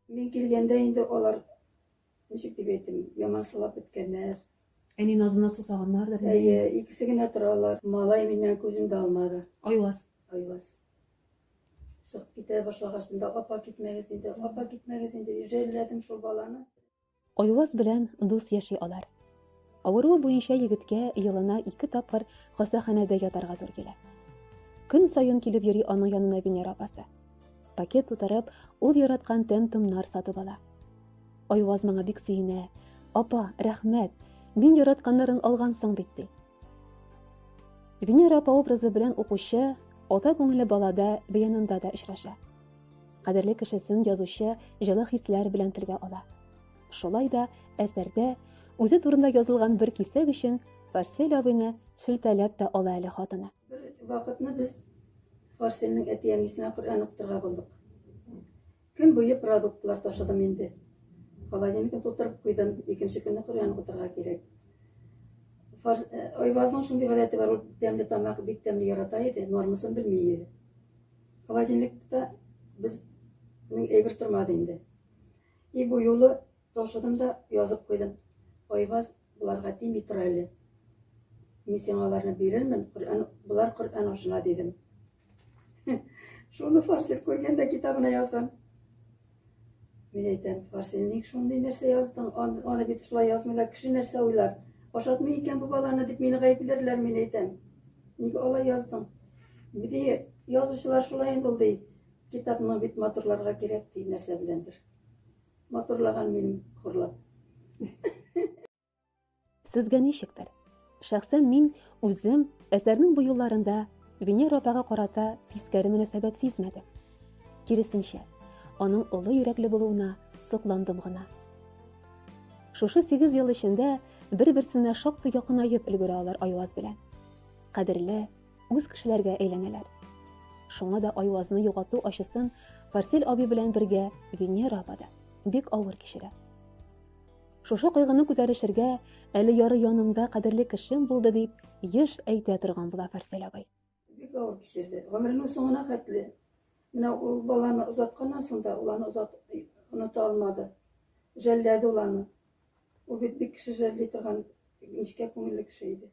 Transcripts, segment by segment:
Мин килгәндә инде алар, ничек дип әйтим, яман сулап беткәннәр. Әни назына сусаганнардыр инде. Әйе, икесе генә торалар. Малай миннән күзен дә алмады. Айваз. Айваз. Чыгып китә башлагач, апа китмәгез инде, апа китмәгез инде, җәлләдем шул баланы. Айваз белән дус яши алар. Авыруы буенча егеткә елына ике тапкыр хастаханәдә ятарга туры килә. Көн саен килеп йөри аның янына Венера апасы. Пакет тутырып, ул яраткан тәм-томнар сатып ала. Айваз моңа бик сөенә. Апа, рәхмәт. Мин яратканнарын алгансың бит ди. Венера апа образы белән укучы ата күңеле балада бәянында да очраша. Кадерле кешесен язучы җылы хисләр белән телгә ала. Шулай да әсәрдә үзе турында язылган бер кисәк өчен Фарсель абыйны шелтәләп тә ала әле хатыны. Бер вакытны без Фарсельнең әти-әнисенә Коръән укытырга булдык. Көн буе продуктлар ташыдым инде. Холодильникны тутырып куйдым, икенче көнне Коръән укытырга кирәк. Э, Айвазның шундый гадәте бар, ул тәмле тамак бик тәмле ярата иде, нормасын белми иде. Холодильникта без мин әйбер тормады инде. И бу юлы ташыдым да язып куйдым. Айваз боларга тими тор әле. Мин сиңа аларны бирермен, Коръән болар Коръән ашына дидем. Шуны Фарсил күргәндә китабына язган. Мин әйтәм, Фарсил, ник шундый нәрсә яздың? Ан, аны бит шулай язмыйлар, кеше нәрсә уйлар? Ашатмый икән бу баланы дип мине гаепләрләр, мин әйтәм. Ник алай яздың? Ди, язучылар шулай инде ул, ди. Китапны бит матурларга кирәк, ди, нәрсә беләндер. Матурлаган минем хурлап. Сезгә ничектер? Шәхсән мин үзем әсәрнең бу юлларында Венера апага карата тискәре мөнәсәбәт сизмәдем. Киресенчә, аның олы йөрәкле булуына сокландым гына. Шушы 8 ел эчендә бер-берсенә шактый якынаеп өлгерә алар Айваз белән. Кадерле, үз кешеләргә әйләнәләр. Шуңа да Айвазны югалту ачысын Фарсель аби белән бергә Венера апа да бик авыр кичерә. Шушы кайгыны күтәрешергә әле яры янымда кадерле кешем булды, дип еш әйтә торган була Фарсель абый. Бик авыр кичерде. Гомеренең соңына хәтле. Менә ул баланы озатканнан соң да, ул аны озат оныта алмады. Жәлләде ул аны. Ул бит бик кеше жәлли торган нечкә күңелле кеше иде.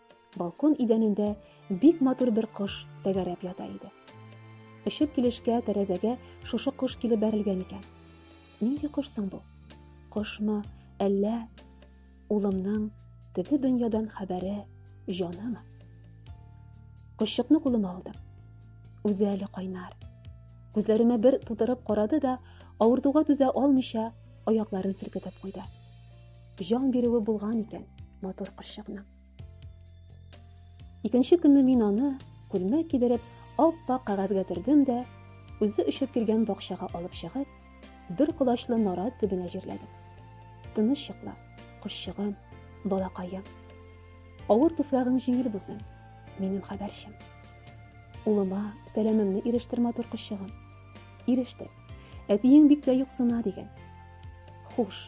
Балкон идәнендә бик матур бер кош тәгәрәп ята иде. Очып килешкә тәрәзәгә шушы кош килеп бәрелгән икән. Нинди кош соң бу? Кошмы, әллә улымның теге дөньядан хәбәре җанымы? Кошчыкны кулыма алдым. Үзе әле кайнар. Күзләремә бер тутырып карады да, авыртуга түзә алмыйча, аякларын селкетеп куйды. җан бирүе булган икән матур кырчыкның. Икенче көнне мин аны күлмәк кидереп, аппак кагазгә төрдем дә, үзе өшеп килгән бакчага алып чыгып, бер колачлы нара төбенә җирләдем. Тыныч йокла, кошчыгым, балакаем. Авыр туфрагың җиңел булсын, минем хәбәрчем. Улыма сәламемне ирештер матур кошчыгым. Ирештер. Әтиең бик тә юксына дигән. Хуш,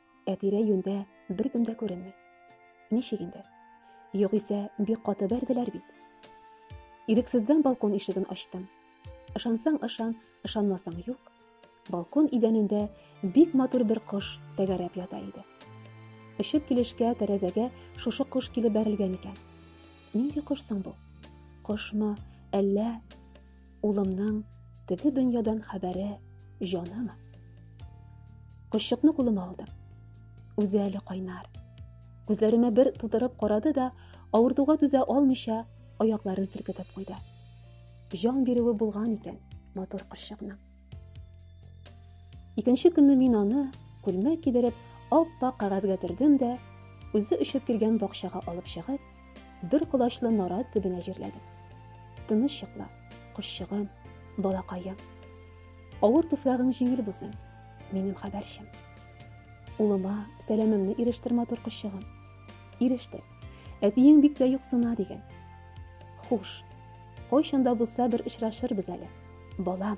Ә тирә-юньдә беркем дә күренми. Ничек инде? Югыйсә, бик каты бәрделәр бит. Ирексездән балкон ишеген ачтым. Ышансаң ышан, ышанмасаң юк. Балкон идәнендә бик матур бер кош тәгәрәп ята иде. Очып килешкә тәрәзәгә шушы кош килеп бәрелгән икән. Нинди кош соң бу? Кошмы, әллә Улымның теге дөньядан хәбәре җаным. Кошчыкны кулыма алдым. Үзе әле кайнар. Күзләремә бер тутырып карады да, авыртуга түзә алмыйча, аякларын селкетеп куйды. Җан бирүе булган икән матур кошчыкның. Икенче көнне мин аны күлмәк кидереп, аппак кагазьгә төрдем дә, үзе өшеп килгән бакчага алып чыгып, бер колачлы нарат төбенә җирләдем. Тыныч йокла, кошчыгым, балакаем. Авыр туфрагың җиңел булсын, минем хәбәрчем. Улыма сәламемне ирештер матур кошчыгым. Иреште. Әтиең бик тә юксына дигән. Хуш. Кайчан да булса бер очрашырбыз әле. Балам.